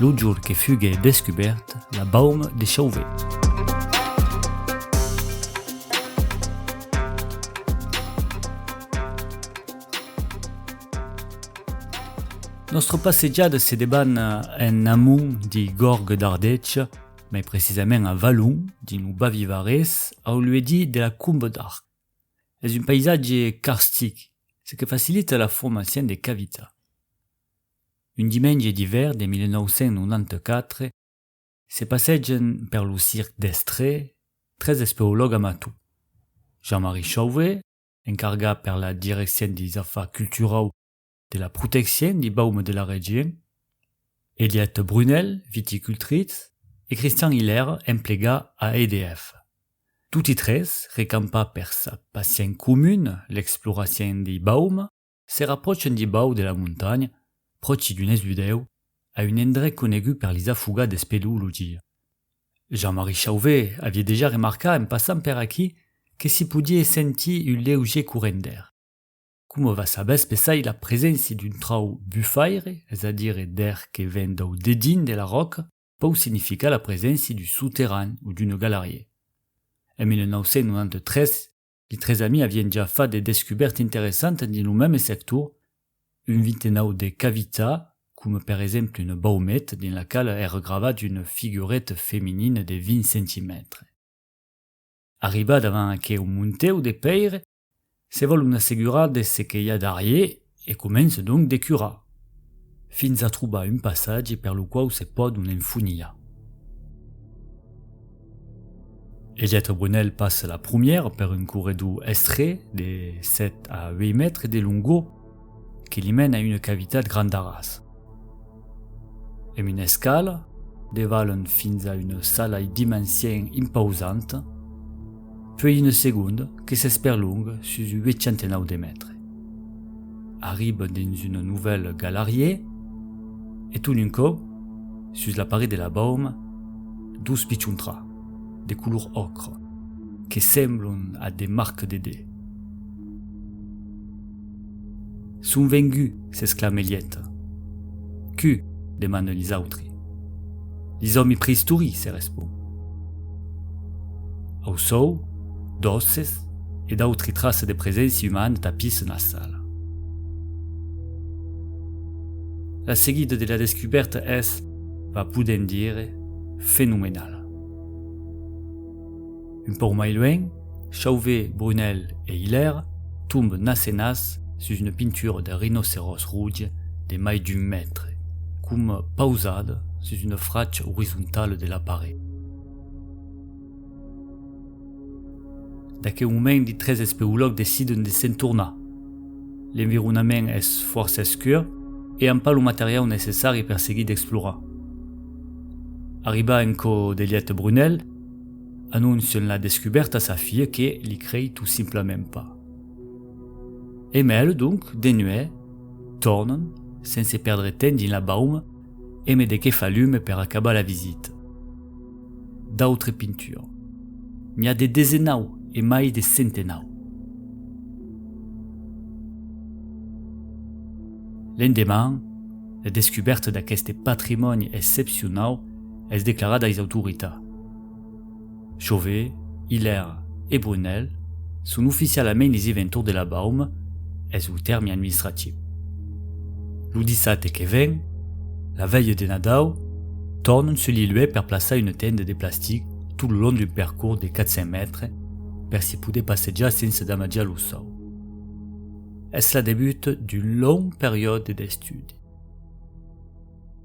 Lo jorn que fuguè descubèrt, la baum de Chauvet. Nòstra passejada se debana en amont de Gorg d'Ardèch, mai precisament a Valon, dins lo Bavivarés, au luèdi de la Comba d'Arc. Es un païsatge carstic, ce que facilita la formacion de cavitas. Un dimenge d'ivèr de 1994, se passegen per lo circ d'Estré tres espeològ amator, Jean-Marie Chauvé, encargat per la direccion deis afars culturau de la proteccion dei baumes de la region, Eliette Brunel, viticultritz, e Christian Hilaire, emplegat a EDF. Toti tres, recampats per sa passion comuna, l'exploracion dei baumes, Se rapròchen dibau de la montanha, pròchi d'un esudèu, a un endrech conegut per lis afogats d'espeleologia. Jean-Marie Chauvet avié dejà remarcat en passant per aquí que s'i podié sentir un leugier corrent d'air. Coma va saber espessai la preséncia d'un trau bufaire, es a dire d'air que ven dau dedins de la ròca, pòu significar la preséncia d'un soterran o d'un galarier. En 1993, Li tres amis avien ja fat de descubèrtes interessantes dins lo mème sector, un vintenau de cavitats, coma per exemple una baumette dins la quala èra gravat una figureta feminina de 20 centimètres. Arribat avant aqueu montèu de pèire, se vòl un assegurar de ce que i a darrier E comence donc de curar. Fins a trobar un passatge per lo quau se pòdon enfonilhar. E Lletre Bonèl passa la prumièra per un corredor estrech de 7 a 8 mètres de longor que li mena a una cavitat grandarasa. Èm una escala, de Valon fins a una salai d'imensièn impausanta, puèi una segonda que s'esperlonga sus 809 de mètres. Arriba dins una novèla galariè e ton un còp, sus la paret de la bauma, dos pichontra, de color òcra, que semblon a de marc de de. Son vengut, s'exclame Elieta. Cu? demanen lis autri. Lis òmi preistoric, se respon. Au sòu, d'òsses e d'autri traça de preséncia umana tapissen la sala. La seguida de la descubèrta es, va podent dire, fenomenala. Un pauc mai luènh, Chauvé, Brunèl e Hilèr tombent nas e nas sus una pintura de rinoceròs roge de mai d'un mètre, coma pausada sus una fracha orizontala de la paret. D'aqueu moment, de tres espeològs deciden de se'n tornar. L'environament es fòrça escur e an pas lo materiau necessari per seguir d'explorar. Arribar en cò de lièt a Brunèl, Anoncian la descubèrta a sa filha que li crei tot simplament pas. Emèl, donc, de nuèt, tornan, sense pèrdre temps dins la bauma, eme de qué fa lume per acabar la visita. D'autre pintura. N'i a de desenau e mai de centenau. L'endeman, la descubèrta d'aqueste patrimòni excepcionau es declarada ais autoritats. Chauvet, Hilaire e Brunel son oficialament les eventors de la Baume, es lo tèrme administratiu. Lo dissabte que ven, la vèlha de Nadau, tornan sul lieu per plaçar una tenda de plastic tot lo long d'un percors de 400 mètres per se poder passejar sense damatjar lo sòu. Es la debut d'un long periòde d'estudi.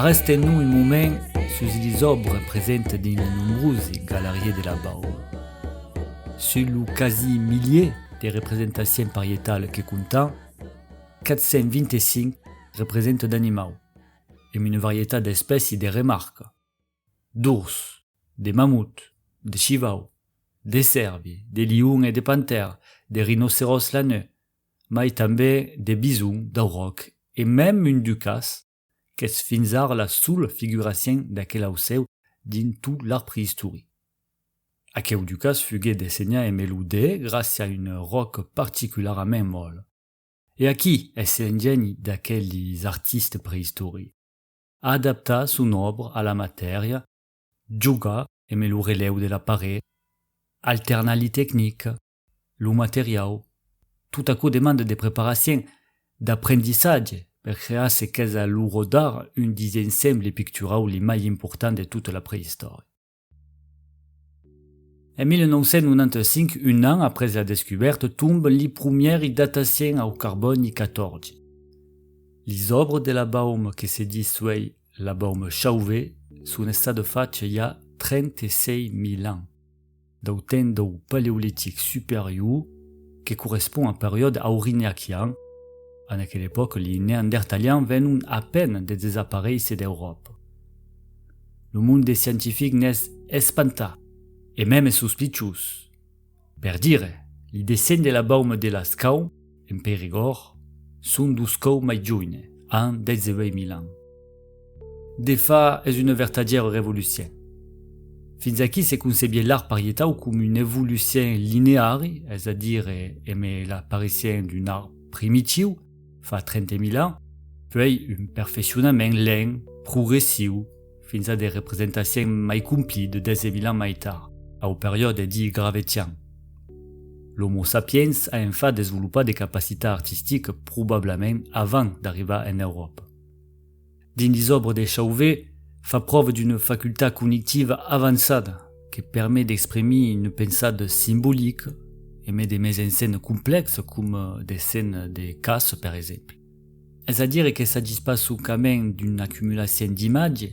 Arresten-nous un moment sus lis òbres presentes dins li nombrosi galarier de la Baule. Sus lo quasi milier de representacion parietala que comptam, 425 representan d'animau, e una varietat d'espèci de remarca. d'ors, de mamut, de shivau, de sèrbi, de lion e de pantèr, de rinoceròs laneu, mai tanbè de bison, d'auròc e mèm un ducàs, qu'es fins ara la sola figuracion d'aquel aucèu dins tot l'art preïstoric. Aqueu ducàs fuguèt dessenhat en melodè gràcia a un ròc particularament mòl. E aquí es l'engèni d'aqueles artistes preïstorics. a adaptar son òbra a la matèria, jogar eme lo relèu de la paret, alternar li tecnica, lo materiau, tot aquò demanda de preparacien, d'aprendissatge per crear ce qu'es a l'uro d'ara un dissensemble picturau li mai important de tota la preistòria. En 1995, un an après la descubèrta, tomban li promièri dataciens au carbòni 14. Lis òbres de la baume que se dis suei la baume Chauvet son estada facha i a 36.000 ans, dau temps dau Paleolitic Superior que correspond au periòde aurignacian, en aquela epòca li Neandertalians venon a peine de desaparéisser d'Euròpa. lo monde scientific n'es espantat, e mème sospiciós. Per dire, li descende la bauma de Lascau, en Périgord, son duscau mai joine, an 18.000 ans. De fa, es una vertadièra revolucion. Fins aquí se concebié l'arbre parietau com un evolucion lineari, es a dire, eme l'aparicion d'un arbre primitiu, fa 30.000 ans, puèi un perfeccionament lent, progressiu, fins a de representacions mai complí de 10.000 ans mai tard, au periòde dit gravetian. L'Homo sapiens a en fat desvolopat de capacitat artistica probablament avant d'arribar en Euròpa. Dins les òbres de Chauvet, fa pròva d'una facultat cognitiva avançada que permet d'exprimir un pensat simbolic e mai de mes en scène complèx coma de scène de caça per exemple. Es a dire que s'agís pas soncament d'una acumulacion d'imatge,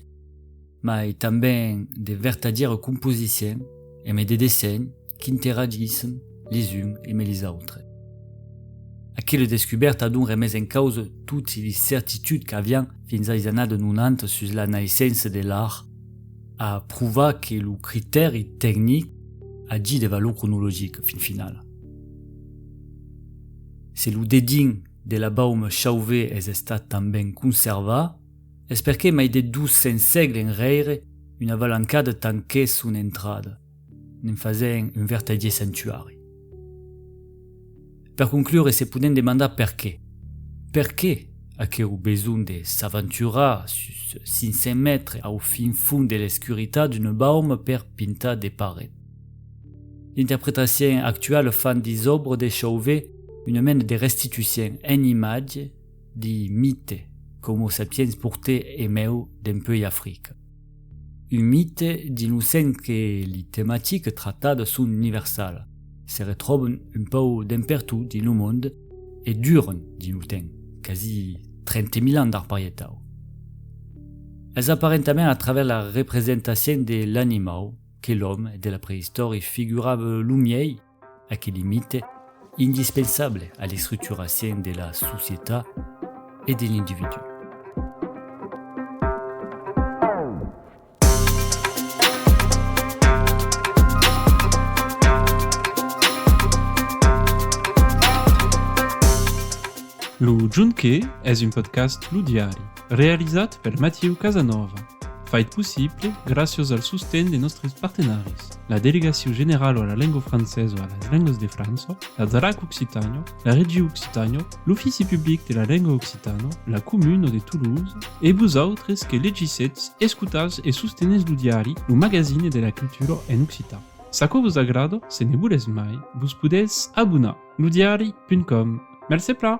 mai tanben de vertadièra composición e mai de dessenh, qu'interagissem les uns emé les autres. Aquela descubèrta donc remés en causa toti les certituds qu'avián fins ais anat donant sus la naissença de l'art, a provar que lo critèri tecnic agit de valor cronologica fin finala. Se lo dedin de la baume Chauvé es estat tanben conservat, es perqué mai de 200 sègles enrèire una valancada tanquèt son entrada. ne'n fasèn un vertadier sanctuari. Per conclure se podèn demandar perqué? Perqué aqueu besonh de s'aventurar sus 500 mètres au fin fond de l'escuritat d'un baum per pintar de paret? D'interpretacion actuala fan dis òbres de Chauvet una mena de restitucion en imatge di mite qu'Homo sapiens portè emèu dempuèi Africa. Un mite d'innocent que li tematiques tratadas son universala, se retròban un pauc dempertot dins lo monde e duran dins lo temps, quasi 30 mil ans d'arparietau. Es aparentament a travèrs la representacion de l'animau que l'òme de la preistòria figurava lo miei, aqueli mite indispensable a l'estructuracion de la societat e de l'individú. Lo Junquet es un podcast Lo Diari. Realizat per Mathieu Casanova. Fait possible gràcias al sosten de nòstres partenaris, la Delegacion Generala a la Lenga Francesa e a las Lengas de França, la DRAC Occitània, la Région Occitània, l'Ofici Public de la Lenga Occitana, la Comuna de Toulouse e vosautres que legissetz, escotatz e sostenètz lo diari Lo Magazine de la Cultura en occitan. S'aquò vos agrada, se ne volètz mai, vos podètz abonar. Ludiari.com Mercé pla!